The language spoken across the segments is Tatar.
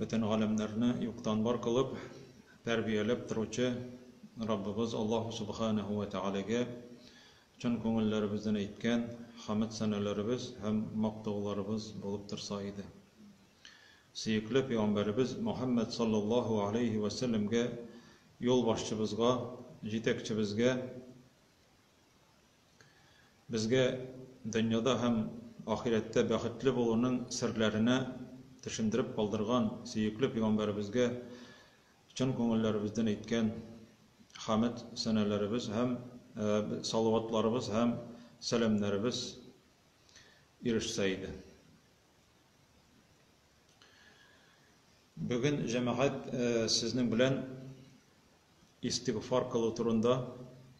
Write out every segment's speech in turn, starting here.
Бөтен галәмнәрне юктан бар кылып, тәрбияләп торучы Раббыбыз Аллаһу Сүбхәнәһү вә Тәгаләгә чын күңелләребездән әйткән хәмед-сәнәләребез һәм мактауларыбыз булып торса иде. Сөекле пигамбәребез Мөхәммәд салләллаһу галәйһи вә сәлләмгә, юлбашчыбызга, җитәкчебезгә, Безгә дөньяда һәм ахирәттә бәхетле булуның серләренә төшендереп калдырган сөекле пигамбәребезгә чын күңелләребездән әйткән хәмед сәналарыбыз һәм салаватларыбыз һәм сәламнәребез ирешсә иде. Бүген җәмәгать сезнең белән истигъфар кылу турында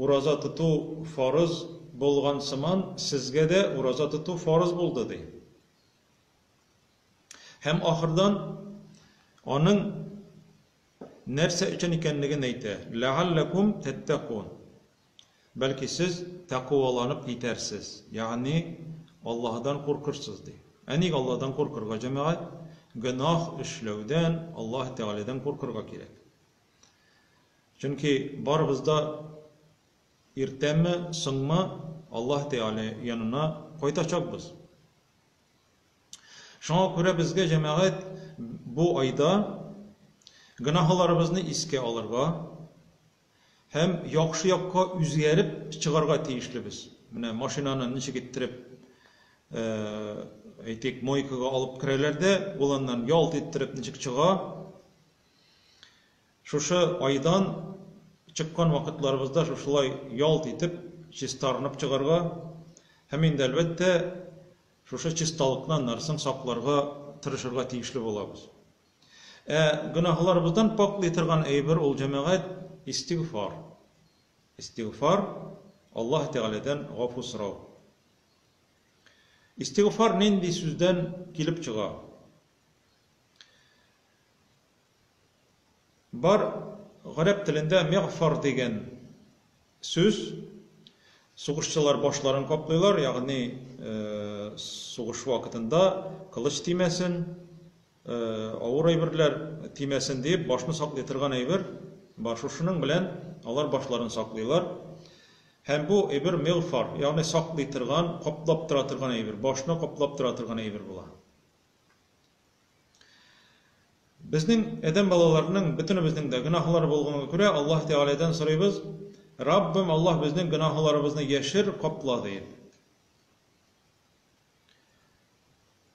Ураза тоту фарыз булган сыман, сезгә дә ураза тоту фарыз булды, ди. Һәм ахырдан аның нәрсә өчен икәнлеген әйтә, Ләгалләкум тәттәкун. Бәлки сез тәкуаланып китәрсез, ягъни Аллаһыдан куркырсыз, ди. Ә ник Аллаһыдан куркырга, җәмәгать? Гөнаһ эшләүдән Аллаһы Тәгаләдән куркырга кирәк. Чөнки барыбыз да иртәме, соңмы Аллаһ Тәгалә янына кайтачакбыз. Шуңа күрә безгә, җәмәгать, бу айда гөнаһларыбызны искә алырга һәм яхшы якка үзгәреп чыгарга тиешлебез. Менә машинаны ничек иттереп әйтик, мойкага алып керәләр дә, ул аннан ялт иттереп ничек чыга, Шушы айдан чыккан вакытларыбызда шушылай ялт итеп чистарынып чыгарга һәм инде, әлбәттә, шушы чисталыкны аннарысын сакларга тырышырга тиешле булабыз. Ә гөнаһларыбыздан пакълый торган әйбер ул, җәмәгать, истигъфар. Истигъфар, Аллаһ Тәгаләдән гафу сорау. Истигъфар нинди сүздән килеп чыга? Бар, гарәп телендә мигъфар дигән сүз. Сугышчылар башларын каплыйлар, ягъни сугыш вакытында кылыч тимәсен, авыр әйберләр тимәсен диеп, башны саклый торган әйбер. Бар, шушының белән алар башларын саклыйлар. Һәм бу әйбер мигъфар, ягъни саклый торган, каплап тора торган әйбер, башны каплап тора торган әйбер була. Безнең адәм балаларының бөтенебезнең дә гөнаһлары булганга күрә, Аллаһ Тәгаләдән сорыйбыз, Раббым, Аллаһ безнең гөнаһларыбызны яшер, капла диеп.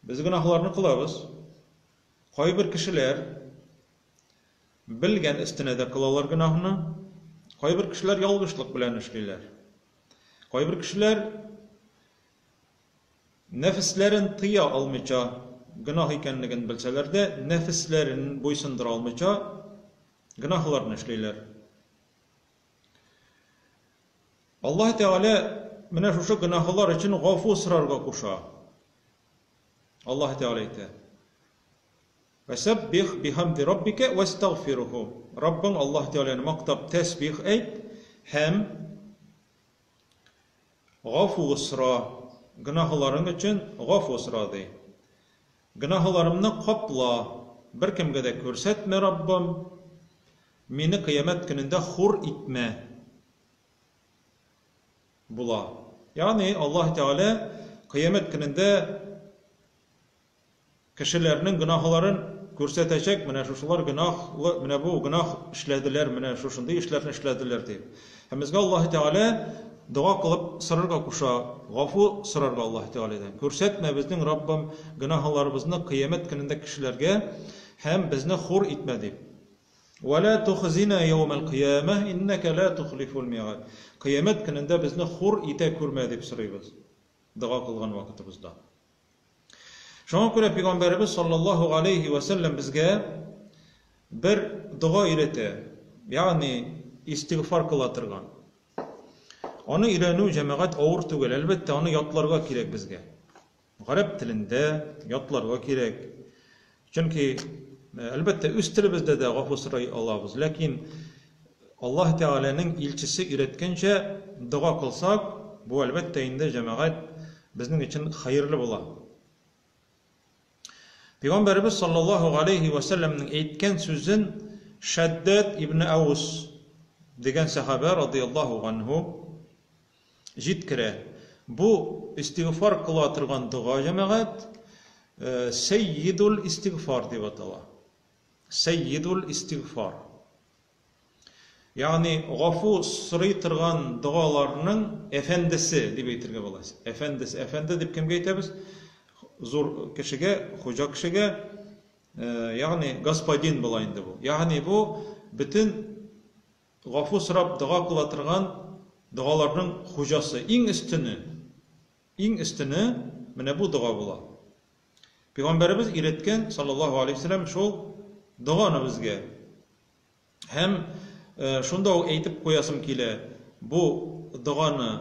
Без гөнаһларны кылабыз. Кайбер кешеләр белгән өстенә дә кылалар гөнаһны. Кайбер кешеләр ялгышлык белән эшлиләр. Кайбер кешеләр Нәфесләрен тыя алмыйча, гөнаһ икәнлеген белсәләр дә, нәфесләрен буйсындыра алмыйча, гөнаһларны эшлиләр. Аллаһ Тәгалә менә шушы гөнаһлар өчен гафу сорарга куша. Аллаһ Тәгалә әйтә: Вәсәббих бихамди раббика вәстагфируху. Раббың Аллаһ Тәгаләне мактап тәсбих әйт һәм Гафу сора, гөнаһыларың өчен гафу сора, ди. Гөнаһыларымны капла, беркемгә дә күрсәтмә, Раббым, мине кыямәт көнендә хур итмә, була. Ягъни Аллаһы Тәгалә кыямәт көнендә Кешеләрнең гөнаһларын күрсәтәчәк, менә шушылар гөнаһлы, менә бу гөнаһ эшләделәр, менә шушындый эшләрне эшләделәр, дип. Һәм безгә Аллаһы Тәгалә дога кылып сорарга куша, гафу сорарга Аллаһы Тәгаләдән. Күрсәтмә, безнең Раббым, гөнаһларыбызны Кыямәт көнендә кешеләргә һәм безне хур итмә, дип. Вә лә тухзина яумәл кыямәһ, иннәкә лә тухлифул миәгәд. Кыямәт көнендә безне хур итә күрмә, дип сорыйбыз дога кылган вакытыбызда. Шуңа күрә пигамбәребез саллаллаһу галәйһи ва сәлләм безгә бер дога өйрәтә, ягъни истигъфар кыла торган. Аны өйрәнү җәмәгать авыр түгел, әлбәттә, аны ятларга кирәк безгә. Гарәп телендә ятларга кирәк. Чөнки, әлбәттә, үз телебездә дә гафу сорый алабыз, ләкин Аллаһ Тәгаләнең илчесе өйрәткәнчә дога кылсак, бу, әлбәттә инде, җәмәгать, безнең өчен хәерле була. Пәйгамбәребез саллаллаһу галәйһи вә сәлләмнең әйткән сүзен Шәддәд ибн Әүс дигән сәхабә радыйяллаһу ганһу Җиткерә. Бу, истигъфар кыла торган дога, җәмәгать, сәййидул-истигъфар дип атала. Сәййидул-истигъфар. Ягъни, гафу сорый торган догаларның әфәндесе, дип әйтергә була. Әфәндесе. Әфәнде дип кемгә әйтәбез? Зур кешегә, хуҗа кешегә. Ягъни, господин була инде бу. Ягъни, бу бөтен Гафу сорап дога кыла торган догаларның хуҗасы, иң өстене, иң өстене менә бу дога була. Пигамбәребез өйрәткән, саллаллаһу алейһи вәсәләм, шул доганы безгә. Һәм шунда ук әйтеп куясым килә, бу доганы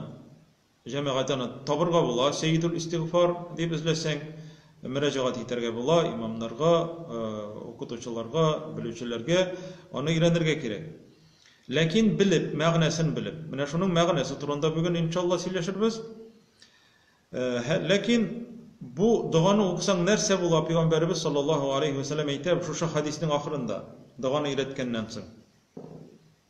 Җәмәгать аны табырга була, Сәйедул Истигъфар дип эзләсәң, мөрәҗәгать итәргә була, имамнарга, укытучыларга, белүчеләргә, аны өйрәнергә кирәк. Ләкин белеп, мәгънәсен белеп. Менә шуның мәгънәсе турында бүген иншалла сөйләшербез. Ләкин бу доганы укысаң нәрсә була, пәйгамбәребез саллаллаһу алейһи вә сәлләм әйтә шушы хәдиснең ахырында, доганы өйрәткәннән соң.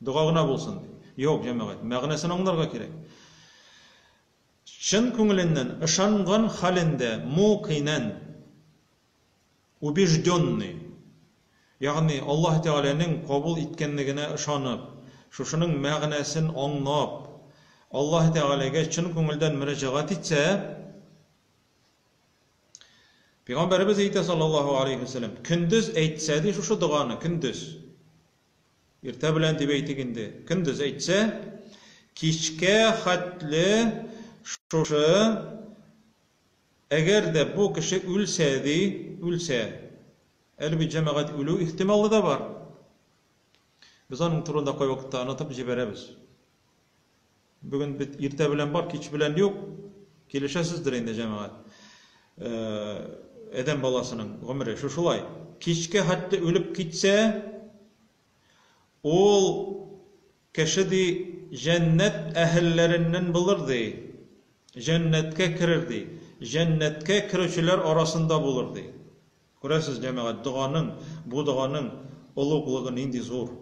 Дога гына булсын, ди. Юк, җәмәгать, мәгънәсен аңларга кирәк. Чын күңеленнән ышанган хәлендә, мукинән, убежденный, ягъни Аллаһ Тәгаләнең кабул иткәнлегенә ышанып, шушының мәгънәсен аңлап, Аллаһ Тәгаләгә чын күңелдән мөрәҗәгать итсә, Пәйгамбәребез әйтә, саллаллаһу галәйһи вә сәлләм, көндез әйтсә, ди, шушы доганы, көндез. Иртә белән дип әйтик инде, көндез әйтсә, кичкә хәтле шушы, әгәр дә бу кеше үлсә, ди, үлсә, әле бит җәмәгать үлү ихтималы да бар, без аның турында кайвакытта онытып җибәрәбез. Бүген бит иртә белән бар, кич белән юк. Килешәсездер инде, җәмәгать. Адәм баласының гомере шу шулай. Кичкә хәтта үлеп китсә, ул кеше ди җәннәт әһелләреннән булыр ди. Җәннәткә керер ди. Җәннәткә керүчеләр арасында булыр ди. Күрәсез, җәмәгать, доганың, бу доганың олуглыгы нинди зур.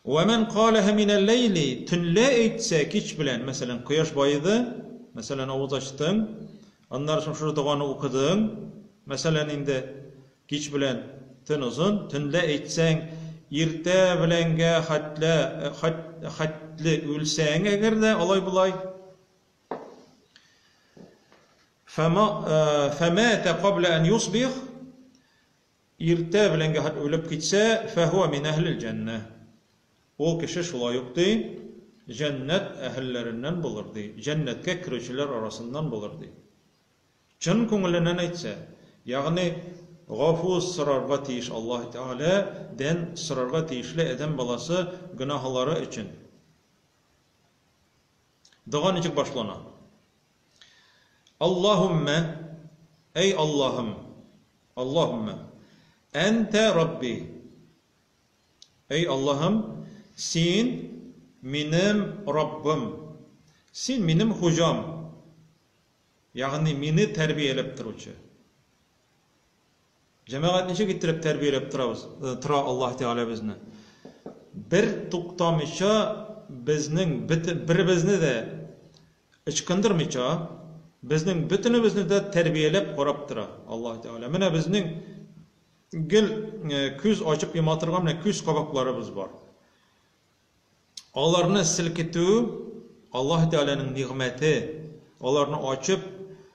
Вә мән каләһә минәл-ләйли, төнлә әйтсә, кич белән, мәсәлән, кояш баеды, мәсәлән, авыз ачтың, аннары соң шушы доганы укыдың, мәсәлән, инде, кич белән, төн озын, төнлә әйтсәң, иртә беләнгә хәтле, хәтле үлсәң әгәр дә, алай-болай, фәмәтә кабля ән юсбих, Иртә белән гәхет үлеп китсә, фәһуә мин әһлел җәннә. Ул кеше шулай ук, ди, җәннәт әһелләреннән булыр, ди, җәннәткә керүчеләр арасыннан булыр, ди. Чын күңеленнән әйтсә, ягъни гафу сорарга тиеш Аллаһы Тәгалә дән сорарга тиешле адәм баласы гөнаһылары өчен. Дога ничек башлана? Аллаһуммә, әй Аллаһым, Аллаһуммә, әнтә Рабби, әй Аллаһым, син минем Раббым, син минем хуҗам, ягъни мине тәрбияләп торучы. Җәмәгать ничек иттереп тәрбияләп торабыз, тора Аллаһ Тәгалә безне? Бер туктамыйча безнең беребезне дә ычкындырмыйча, безнең бөтенебезне дә тәрбияләп карап тора Аллаһ Тәгалә. Менә безнең гел күз ачып йома торган менә күз кабакларыбыз бар. Аларны селкетү Аллаһ Тәгаләнең нигъмәте. Аларны ачып,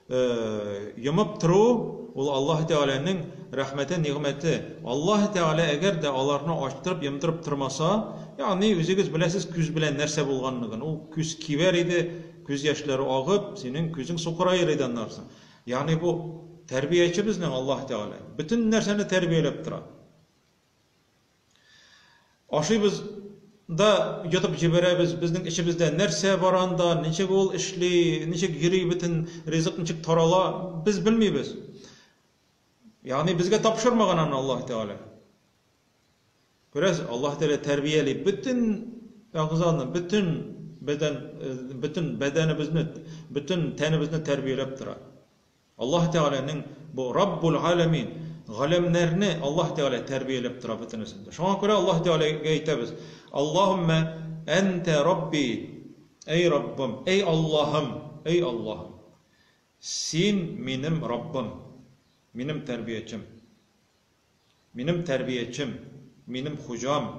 э, йомып тору ул Аллаһ Тәгаләнең рәхмәте, нигъмәте. Аллаһ Тәгалә әгәр дә аларны ачтырып, йомдырып тормаса, ягъни үзегез беләсез күз белән нәрсә булганлыгын. Ул күз кибәр иде, күз яшьләре агып, синең күзең сукыраер иде аннан соң. Ягъни бу тәрбияче безнең Аллаһ Тәгалә. Бөтен нәрсәне тәрбияләп тора. Ашыйбыз да йотып җибәрәбез, безнең эчебездә нәрсә бар анда, ничек ул эшли, ничек йөри бөтен ризык, ничек тарала, без белмибез. Ягъни безгә тапшырмаган аны Аллаһ Тәгалә. Күрәсез, Аллаһ Тәгалә тәрбияли бөтен әгъзаны, бөтен бәдән, э, бөтен бәдәнебезне, бөтен тәнебезне тәрбияләп тора. Аллаһ Тәгаләнең бу Раббул Галәмин, Галәмнәрне Аллаһ Тәгалә тәрбияләп тора бөтенесен дә. Шуңа күрә Аллаһ Тәгаләгә әйтәбез, Аллаһуммә әнтә Рабби, әй Раббым, әй Аллаһым, әй Аллаһым, Син минем Раббым, минем тәрбиячем, минем тәрбиячем, минем хуҗам.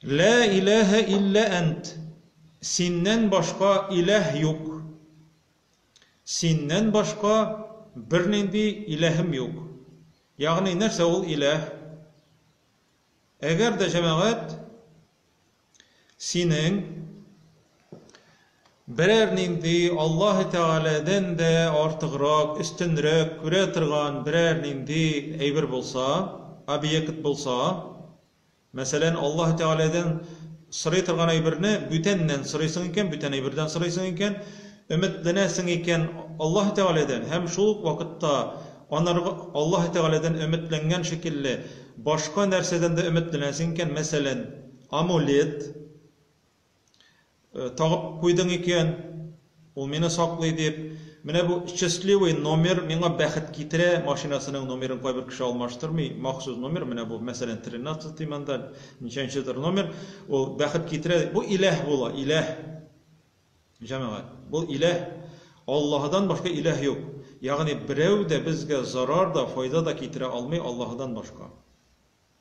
Лә иләһә илля әнт, Синнән башка иләһ юк. Синнән башка бернинди иләһем юк. Ягъни нәрсә ул иләһ? Әгәр дә җәмәгать синең берәр нинди Аллаһы Тәгаләдән дә артыграк, өстенрәк күрә торган берәр нинди әйбер булса, объект булса, Мәсәлән, Аллаһы Тәгаләдән сорый торган әйберне бүтәннән сорыйсың икән, бүтән әйбердән сорыйсың икән, өметләнәсең икән Аллаһы Тәгаләдән һәм шул ук вакытта анарга Аллаһы Тәгаләдән өметләнгән шикелле башка нәрсәдән дә өметләнәсең икән, мәсәлән, амулет, Тагып куйдың икән, ул мине саклый дип. Менә бу счастливый номер миңа бәхет китерә, машинасының номерын кайбер кеше алмаштырмый, махсус номер, менә бу, мәсәлән, тринацатый монда, ничәнчедер номер, ул бәхет китерә, бу иләһ була, иләһ, җәмәгать, бу иләһ, Аллаһыдан башка иләһ юк, ягъни берәү дә безгә зарар да, файда да китерә алмый Аллаһыдан башка.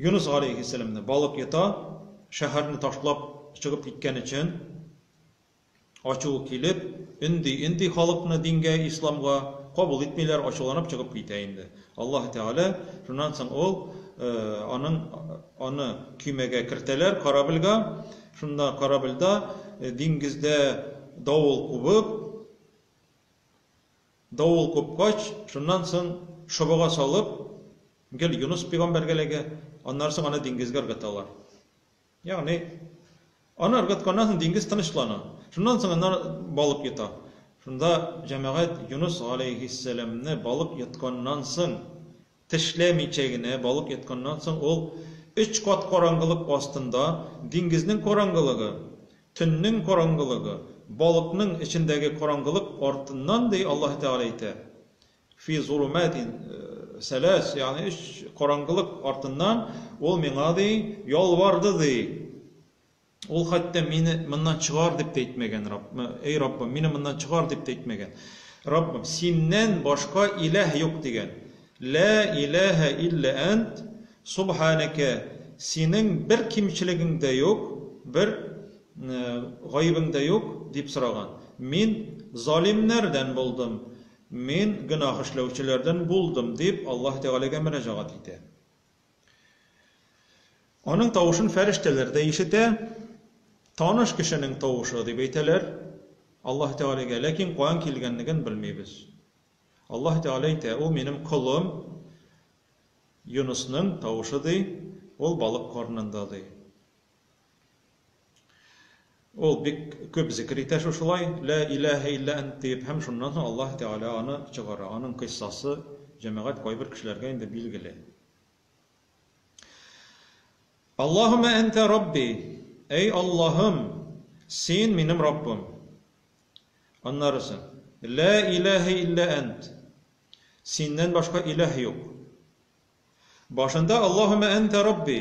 Юныс галәйһиссәламне балык йота, шәһәрне ташлап чыгып киткән өчен ачуы килеп, өнди-өнди халыкны дингә, исламга, кабул итмиләр, ачуланып чыгып китә инде. Аллаһы Тәгалә, шуннан соң ул, аның, аны көймәгә кертәләр, корабльга, шунда корабльда диңгездә давыл кубып, Давыл купкач, шуннан соң чыбыга салып, гел Юныс пигамбәргә эләгә, аннары соң аны диңгезгә ыргыталар. Ягъни, аны ыргытканнан соң диңгез тынычлана. Шуннан соң аннары балык йота. Шунда җәмәгать Юныс галәйһиссәламне балык йотканнан соң Тешләмичә генә балык йотканнан соң ул өч кат караңгылык астында, диңгезнең караңгылыгы, төннең караңгылыгы, балыкның эчендәге караңгылык артыннан, ди Аллаһы Тәгалә әйтә, Фи зулуматин сәләс, ягъни өч караңгылык артыннан ул миңа, ди, ялварды, ди. Ул хәтта мине моннан чыгар дип тә әйтмәгән, Рабб, әй Раббым, мине моннан чыгар дип тә әйтмәгән. Раббым, Синнән башка иләһ юк дигән. Лә иләһә илля әнт, субханәкә, Синең бер кимчелегең дә юк, бер гаебең дә юк, дип сораган. Мин залимнәрдән булдым, мин гөнаһ эшләүчеләрдән булдым, дип Аллаһ Тәгаләгә мөрәҗәгать итә. Аның тавышын фәрештәләр дә ишетә. Таныш кешенең тавышы, дип әйтәләр Аллаһ Тәгаләгә, ләкин каян килгәнлеген белмибез. Аллаһ Тәгалә әйтә, Ул минем колым Юнысның тавышы, ди, ул балык карынында, ди. Ул бик күп зикер итә шушылай, Лә иләһә илля әнт диеп, һәм шуннан соң Аллаһ Тәгалә аны чыгара. Аның кыйссасы җәмәгать кайбер кешеләргә инде билгеле. Аллаһуммә әнтә рабби, әй Аллаһым, син минем Раббым. Аннарысы, Лә иләһә илля әнт, синнән башка иләһ юк. Башында Аллаһуммә әнтә рабби,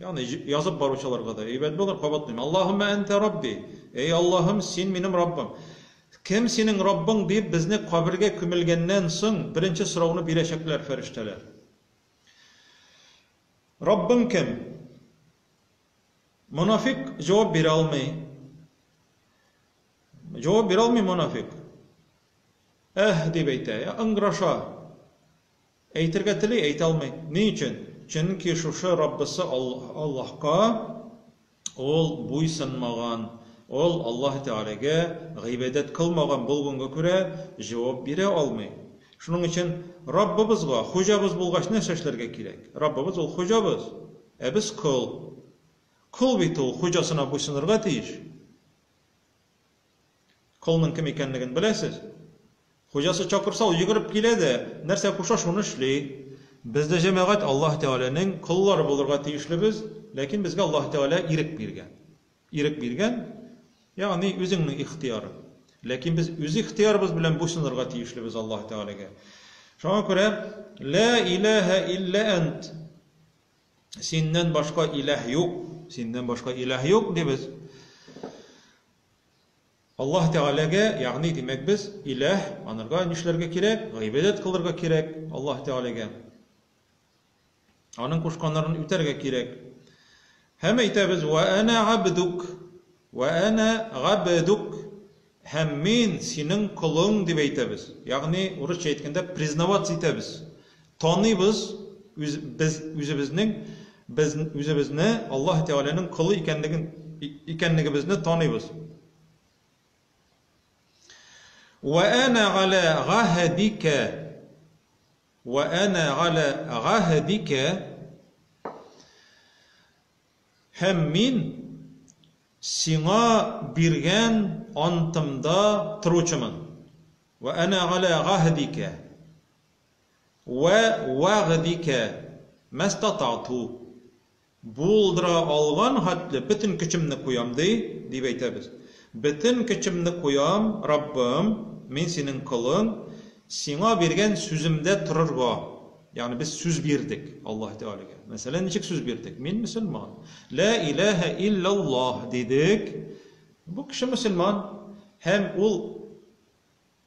ягъни язып баручыларга да әйбәт булыр, кабатлыйм. Аллаһуммә әнтә рабби, әй Аллаһым, син минем Раббым. Кем синең Раббың, диеп безне кабергә күмелгәннән соң беренче сорауны бирәчәкләр фәрештәләр. Раббың кем? Монафик җавап бирә алмый. Җавап бирә алмый монафик. Әһ, дип әйтә, ыңгыраша. Әйтергә тели, әйтә алмый. Ни өчен? Чөнки шушы Раббысы Аллаһка ул буйсынмаган, ул Аллаһ Тәгаләгә гыйбадәт кылмаган булганга күрә, җавап бирә алмый. Шуның өчен Раббыбызга, хуҗабыз булгач, нәрсә эшләргә кирәк? Раббыбыз ул хуҗабыз, ә без кол. Кол бит ул хуҗасына буйсынырга тиеш. Колның кем икәнлеген беләсез? Хуҗасы чакырса, ул йөгереп килә дә, нәрсә куша, шуны эшли. Без дә җәмәгать Аллаһ Тәгаләнең коллары булырга тиешлебез, ләкин безгә Аллаһ Тәгалә ирек биргән. Ирек биргән, ягъни үзеңнең ихтыярың. Ләкин без үз ихтыярыбыз белән буйсынырга тиешлебез Аллаһ Тәгаләгә. Шуңа күрә ла илаһа илля ант Синнән башка иләһ юк, синнән башка иләһ юк дибез. Аллаһ Тәгаләгә, ягъни димәк без иләһ, анырга нишләргә кирәк? Гыйбадәт кылырга кирәк Аллаһ Тәгаләгә. Аның кушканнарын үтәргә кирәк. Һәм әйтәбез: "Ва ана абдук, ва ана габдук". Һәм мин, синең колың, дип әйтәбез. Ягъни, урысча әйткәндә, признаваться итәбез. Таныйбыз үз, без үзебезнең, без үзебезне Аллаһы Тәгаләнең колы икәнлеген, икәнлегебезне таныйбыз. Вә әнә галә гаһәдикә, вә әнә галә гаһәдикә, Һәм мин Сиңа биргән антымда торучымын. Вә әнә галә гаһдикә вә вәгъдикә мәстатату. Булдыра алган хәтле бөтен көчемне куям, ди, дип әйтәбез. Бөтен көчемне куям, Раббым, мин Синең колың, Сиңа биргән сүземдә торырга. Ягъни без сүз бирдек Аллаһ Тәгаләгә. Мәсәлән, ничек сүз бирдек? Мин мөселман. Лә иләһә илляллаһ дидек. Бу кеше мөселман һәм ул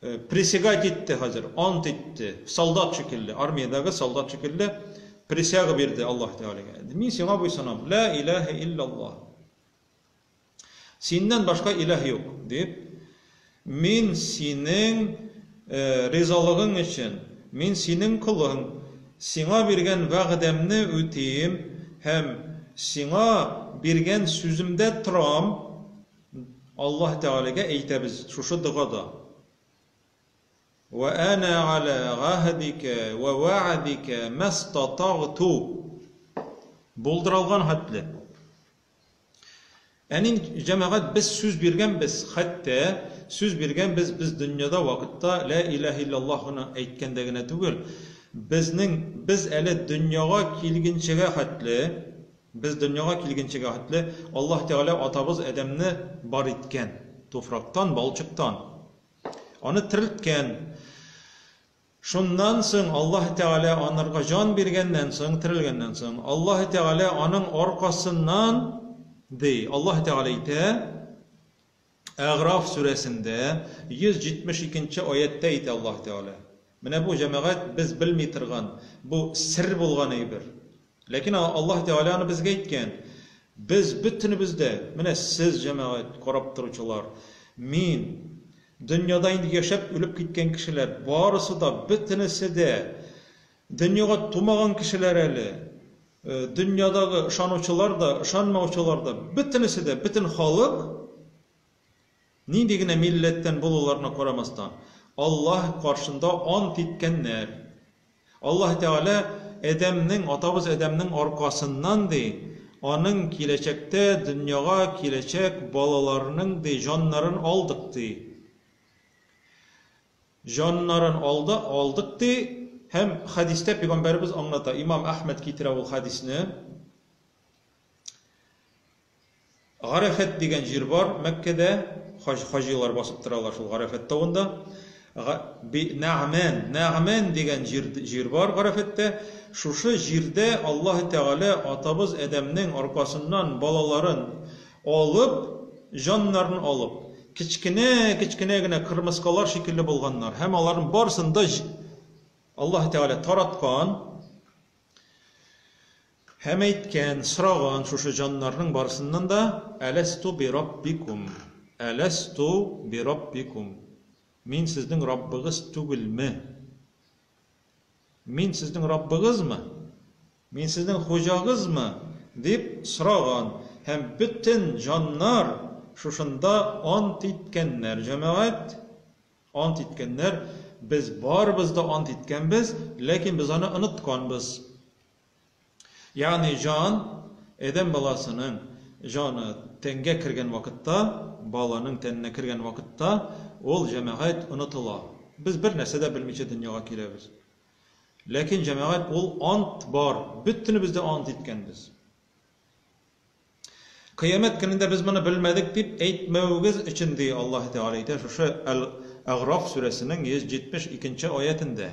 э, присягать итте хәзер, ант итте. Солдат шикелле, армиядәге солдат шикелле присяга бирде Аллаһ Тәгаләгә. Мин сиңа буйсынам. Лә иләһә илляллаһ. Синнән башка илаһ юк, дип, Мин синең ризалыгың өчен, мин синең колың, сиңа биргән вәгъдәмне үтим һәм сиңа биргән сүземдә торам, Аллаһ Тәгаләгә әйтәбез шушы догада. Вә әнә галә гаһдикә вә вәгъдикә мәстатагъту. Булдыралган хәтле. Ә нинг җәмәгать без сүз биргәнбез, хәтта сүз биргәнбез без дөньяда вакытта лә иләһ илләллаһ гына әйткәндә генә түгел, безнең без әле дөньяга килгенчегә хәтле, без дөньяга килгенчегә хәтле Аллаһ Тәгалә атабыз Адәмне бар иткән, туфрактан, балчыктан. Аны терелткән. Шуннан соң Аллаһы Тәгалә анырга җан биргәннән соң, терелгәннән соң, Аллаһы Тәгалә аның аркасыннан, ди, Аллаһы Тәгалә әйтә, Әгъраф сүрәсендә, 172 нче аятьтә әйтә Аллаһы Тәгалә. Менә бу, җәмәгать, без белми торган, бу сер булган әйбер. Ләкин Аллаһ Тәгалә аны безгә әйткән. Без бөтенебез дә, менә сез, җәмәгать, карап торучылар, мин, дөньяда инде яшәп үлеп киткән кешеләр, барысы да, бөтенесе дә, дөньяга тумаган кешеләр әле, дөньядагы ышанучылар да, ышанмаучылар да, бөтенесе дә, бөтен халык Нинди генә милләттән булуларына карамастан, Аллаһ каршында ант иткәннәр. Аллаһ Тәгалә Адәмнең, атабыз Адәмнең аркасыннан, ди, аның киләчәктә дөньяга киләчәк балаларының, ди, җаннарын алдык, ди. Җаннарын алды, алдык, ди. Һәм хәдистә пигамбәребез аңлата, имам Әхмәд китерә ул хәдисне. Гарәфәт дигән җир бар Мәккәдә, хаҗ хаҗилар басып торалар шул Гарәфәт тавында. Га би Нәгъмән, Нәгъмән дигән җир җир бар Гарәфәттә. Шушы җирдә Аллаһы Тәгалә атабыз Адәмнең аркасыннан балаларын алып, җаннарын алып, кечкенә-кечкенә генә кырмыскалар шикелле булганнар һәм аларның барысын да Аллаһы Тәгалә тараткан. Һәм әйткән, сораган шушы җаннарның барысыннан да, Әләсту бираббикум, Әләсту бираббикум, Мин сезнең Раббыгыз түгелме? Мин сезнең Раббыгызмы? Мин сезнең хуҗагызмы? дип сораган. Һәм бөтен җаннар шушында ант иткәннәр, җәмәгать, ант иткәннәр, Без барыбыз да ант иткәнбез, ләкин без аны онытканбыз. Ягъни җан, адәм баласының җаны тәнгә кергән вакытта, баланың тәненә кергән вакытта, ул, җәмәгать, онытыла. Без бер нәрсә дә белмичә дөньяга киләбез. Ләкин, җәмәгать, ул ант бар, бөтенебез дә ант иткәнбез. Кыямәт көнендә без моны белмәдек дип әйтмәвегез өчен, ди Аллаһы Тәгалә әйтә шушы Әл-Әгъраф сүрәсенең 172 нче аятендә.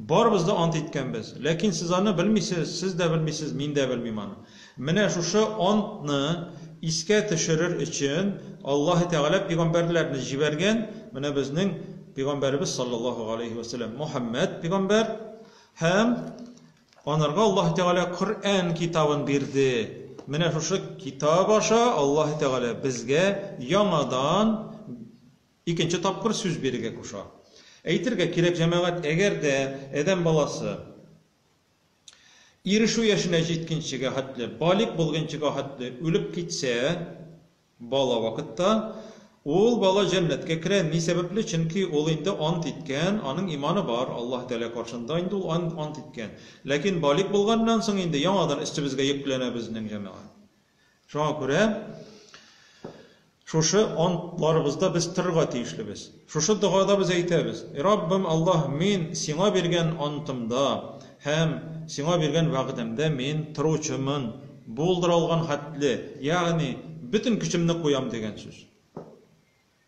Барыбыз да ант иткәнбез. Ләкин сез аны белмисез, сез дә белмисез, мин дә белмим аны. Менә шушы антны искә төшерер өчен Аллаһы Тәгалә пигамбәрләрне җибәргән, менә безнең пигамбәребез саллаллаһу галәйһи вә сәлләм Мөхәммәд пигамбәр һәм анарга Аллаһы Тәгалә Коръән китабын бирде. Менә шушы китап аша Аллаһы Тәгалә безгә яңадан Икенче тапкыр сүз бирергә куша. Әйтергә кирәк, җәмәгать, әгәр дә адәм баласы ирешү яшенә җиткенчегә хәтле, балигъ булгынчыга хәтле үлеп китсә, бала вакытта, ул бала җәннәткә керә. Ни сәбәпле? Чөнки ул инде ант иткән, аның иманы бар, Аллаһы Тәгалә каршында инде ул ант иткән. Ләкин балигъ булганнан соң инде яңадан өстебезгә йөкләнә безнең җәмәгать. Шуңа күрә шушы антларыбызда без торырга тиешлебез. Шушы догада без әйтәбез, И Раббым Аллаһ, мин Сиңа биргән антымда һәм Сиңа биргән вәгъдәмдә мин торучымын, булдыра алган хәтле, ягъни бөтен көчемне куям дигән сүз.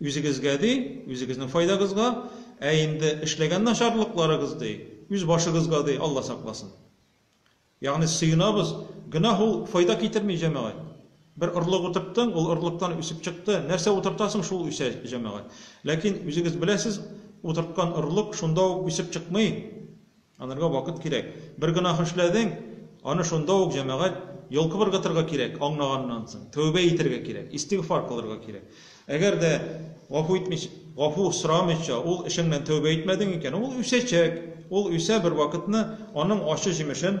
Үзегезгә ди, үзегезнең файдагызга, ә инде эшләгән начарлыкларыгыз ди, үз башыгызга ди, Алла сакласын. Ягъни сыенабыз, гөнаһ ул файда китерми, җәмәгать. Бер орлык утырттың, ул орлыктан үсеп чыкты, нәрсә утыртасың, шул үсә, җәмәгать. Ләкин үзегез беләсез, утырткан орлык шунда ук үсеп чыкмый. Анырга вакыт кирәк. Бер гөнаһ эшләдең, аны шунда ук җәмәгать йолкып ыргытырга кирәк, аңлаганнан соң. Тәүбә итәргә кирәк, истигъфар кылырга кирәк. Әгәр дә гафу итмичә, гафу сорамыйча ул эшеңнән тәүбә итмәдең икән, ул үсәчәк. Ул үсә, бервакытны аның ачы җимешен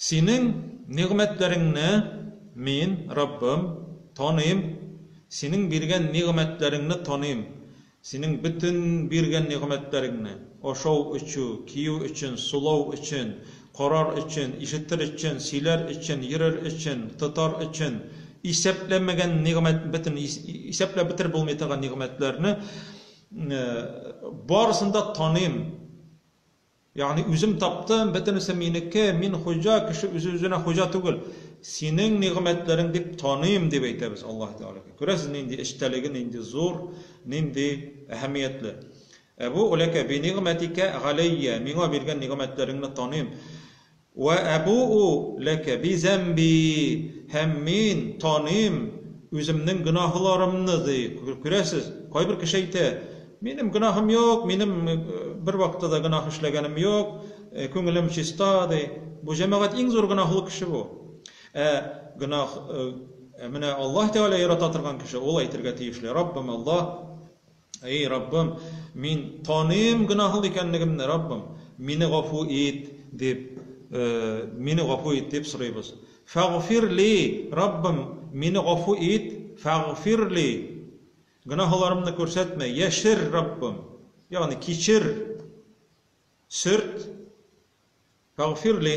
Синең нигъмәтләреңне мин, Раббым, таныйм, Синең биргән нигъмәтләреңне таныйм, Синең бөтен биргән нигъмәтләреңне, ашау-эчү, кию өчен, сулау өчен, карар өчен, ишетер өчен, сөйләр өчен, йөрер өчен, тотар өчен, исәпләмәгән нигъмәт, бөтен исәпләп бетереп булмый торган нигъмәтләрне, барысын да таныйм. Ягъни, үзем таптым, бөтенесе минеке, мин хуҗа, кеше үзе-үзенә хуҗа түгел. Синең нигъмәтләрең дип таныйм, дип әйтә без Аллаһы Тәгаләгә. Күрәсез, нинди эчтәлеге нинди зур, нинди әһәмиятле. Әбү ләкә би нигъмәтикә галәййә, миңа биргән нигъмәтләреңне таныйм. Вә әбүу ләкә би зәмби, һәм мин таныйм үземнең гөнаһларымны, ди. Күрәсез, кайбер кеше әйтә, Минем гөнаһым юк, минем бервакытта да гөнаһ эшләгәнем юк, күңелем чиста, ди. Бу җәмәгать иң зур гөнаһлы кеше бу. Ә гөнаһ, ә менә Аллаһ Тәгалә ярата торган кеше, ул әйтергә тиешле, Раббым Аллаһ! Әй, Раббым, мин таныйм гөнаһлы икәнлегемне, Раббым, мине гафу ит, дип, мине гафу ит, дип сорыйбыз. Фәгъфир ли, Раббым, мине гафу ит, фәгъфир ли, гөнаһларымны күрсәтмә, яшер, Раббым, ягъни кичер, сөрт, фәгъфир ли.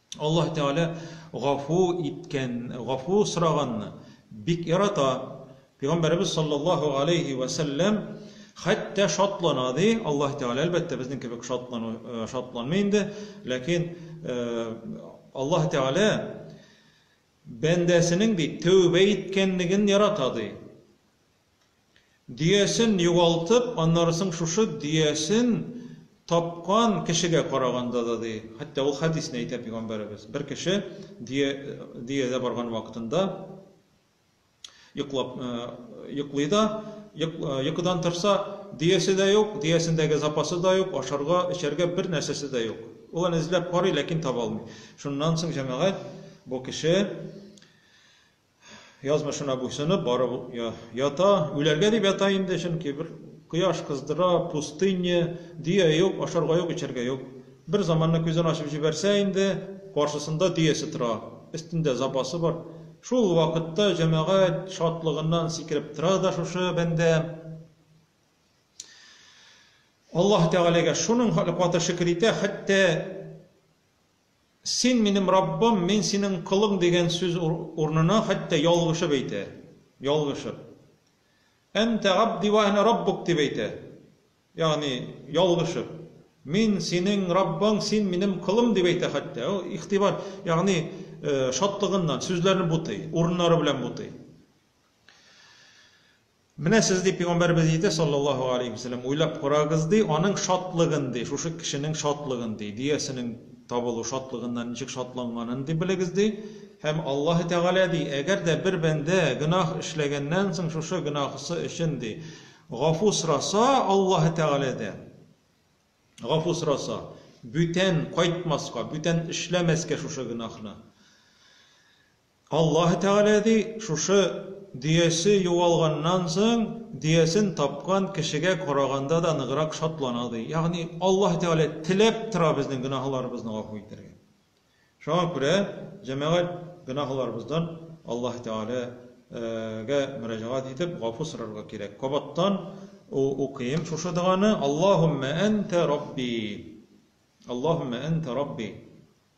Аллаһ Тәгалә гафу иткән, гафу сораганны бик ярата. Пәйгамбәребез саллаллаһу алейһи вә сәлләм хәтта шатлана ди. Аллаһ Тәгалә әлбәттә безнең кебек шатлану э, шатланмый инде, ләкин э, Аллаһ Тәгалә бәндәсенең ди тәүбә иткәнлеген ярата ди. Дөясен югалтып, аннары соң шушы дөясен тапкан кешегә караганда да, ди, хәтта ул хәдисне әйтә пигамбәребез, бер кеше дөя, дөядә барган вакытында йоклап, йоклый да, йокыдан торса, дөясе дә юк, дөясендәге запасы да юк, ашарга, эчәргә бер нәрсәсе дә юк. Ул аны эзләп карый, ләкин таба алмый. Шуннан соң җәмәгать бу кеше Язмышына буйсынып барып ята, үләргә дип ята инде, чөнки бер кояш кыздыра, пустыня, дөя юк, ашарга юк, эчәргә юк. Бер заманны күзен ачып җибәрсә инде, каршысында дөясе тора, өстендә запасы бар. Шул вакытта җәмәгать шатлыгыннан сикереп тора да шушы бәндә. Аллаһ Тәгаләгә шуның каты шөкер итә, хәтта Син, минем Раббым, мин синең колың дигән сүз урынына хәтта ялгышып әйтә. Ялгышып. Әнтә габди вә әнә раббук дип әйтә. Ягъни, ялгышып. Мин, синең Раббың, син, минем колым дип әйтә хәтта. Ул игътибар, ягъни, шатлыгыннан сүзләрне бутый, урыннары белән бутый. Менә сез, ди, пигамбәребез иде, салләллаһу галәйһи вә сәлләм, уйлап карагыз, ди, аның шатлыгын, ди, шушы кешенең шатлыгын, ди, дөясенең табылу шатлыгыннан ничек шатланганын, ди, белегез, ди. Һәм Аллаһы Тәгалә, ди, әгәр дә бер бәндә гөнаһ эшләгәннән соң шушы гөнаһысы өчен, ди, гафу сораса Аллаһы Тәгаләдән, гафу сораса, бүтән кайтмаска, бүтән эшләмәскә шушы гөнаһны, Аллаһы Тәгалә ди, Шушы дөясе югалганнан соң, дөясен тапкан кешегә караганда да ныграк шатлана, ди. Ягъни Аллаһы Тәгалә теләп тора безнең гөнаһларыбызны гафу итәргә. Шуңа күрә, җәмәгать, гөнаһларыбыздан Аллаһы Тәгаләгә мөрәҗәгать итеп, гафу сорарга кирәк. Кабаттан укыйм шушы доганы, Аллаһуммә әнтә рабби. Аллаһуммә әнтә рабби.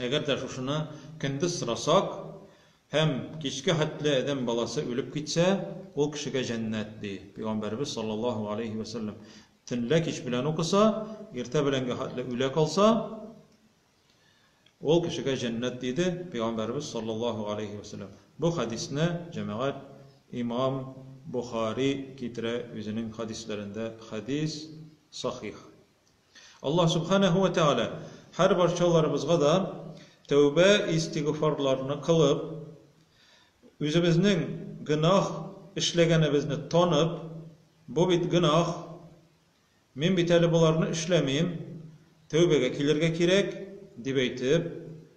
Әгәр дә шушыны көндез сорасак һәм кичкә хәтле адәм баласы үлеп китсә, ул кешегә җәннәт, ди Пәйгамбәребез саллаллаһу галәйһи вә сәлләм. Төнлә кич белән укыса, иртә беләнгә хәтле үлә калса, ул кешегә җәннәт, диде Пәйгамбәребез саллаллаһу галәйһи вә сәлләм. Бу хәдисне, җәмәгать, имам Бохари китерә үзенең хәдисләрендә, хәдис сахих. Аллаһ Сүбхәнәһү вә Тәгалә һәр барчаларыбызга да тәүбә-истигъфарларны кылып, үзебезнең гөнаһ эшләгәнебезне танып, бу бит гөнаһ, мин бит әле боларны эшләмим, тәүбәгә килергә кирәк, дип әйтеп,